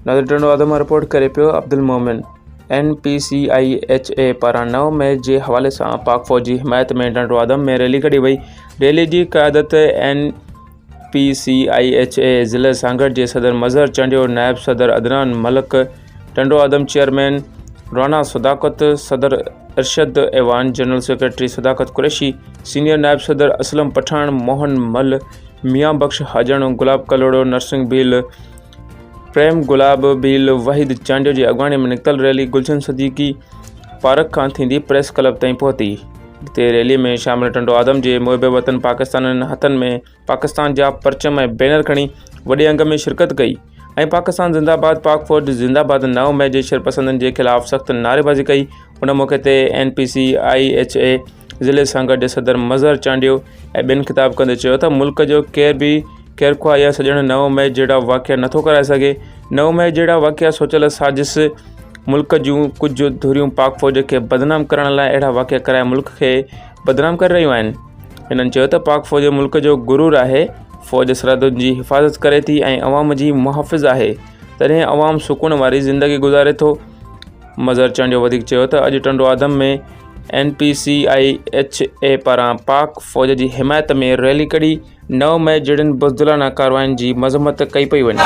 نظر ٽنڊو اڌ مان رپورٽ ڪري پيو Abdul Momin N P C I H E پاران نو مئي جي حوالي سان پاڪ فوج جي حمايت ۾ ڊنڊو آدم ۾ ريلي ڪڍي وئي ريلي جي قيادت N P C I H اي ضلع سانگهڙ جي صدر مظهر چانڊيو، نائب صدر عدنان ملڪ، ٽنڊو آدم چيئرمين رانا صداقت، صدر ارشد ايوان، جنرل سيڪريٽري صداقت قريشي، سينيئر نائب صدر اسلم پٺاڻ، موهن مل، ميان بخش حاجڻ، گلاب ڪلهوڙو، نرسنگهه ڀيل، پريم گلاب ڀيل، وحيد چانڊيو جي اڳواڻي ۾ نڪتل ريلي گلشن صديقي پارڪ کان ٿيندي پريس ڪلب تائين پهتي جتي ريلي ۾ شامل ٽنڊو آدم جي محب وطن پاڪستانين هٿن ۾ پاڪستان جا پرچم ۽ بينر کڻي وڏي انگ ۾ شرڪت ڪئي ۽ پاڪستان زنده باد پاڪ فوج زنده باد نو مئي جي شرپسندن جي خلاف سخت نعريبازي ڪئي ان موقعي تي N P C I H E ضلعي سان گڏ صدر مظهر چانڊيو ۽ ٻين خطاب ڪندي چيو ته ملڪ جو ڪير به خيرخواهه يا سڄڻ نو مئي جهڙا واقعا نٿو ڪرائي سگهي نو مئي جهڙا واقعا سوچيل سازش ملڪ جون ڪجهه ڌريون پاڪ فوج کي بدنام ڪرڻ لاء اهڙا واقعا ڪرائي ملڪ کي بدنام ڪري رهيون آهن هنن چيو ته پاڪ فوج ملڪ جو غرور آهي فوج سرحدن جي حفاظت ڪري ٿي ۽ عوام جي محافظ آهي تڏهن عوام سڪون واري زندگي گذاري ٿو مظهر چانڊيو وڌيڪ چيو ته اڄ Tando Adam ۾ N P C I H E پاران پاڪ فوج جي حمايت ۾ ريلي ڪڍي نو مئي جهڙين بزدلانه ڪاررواين جي مذمت ڪئي پئي وڃي.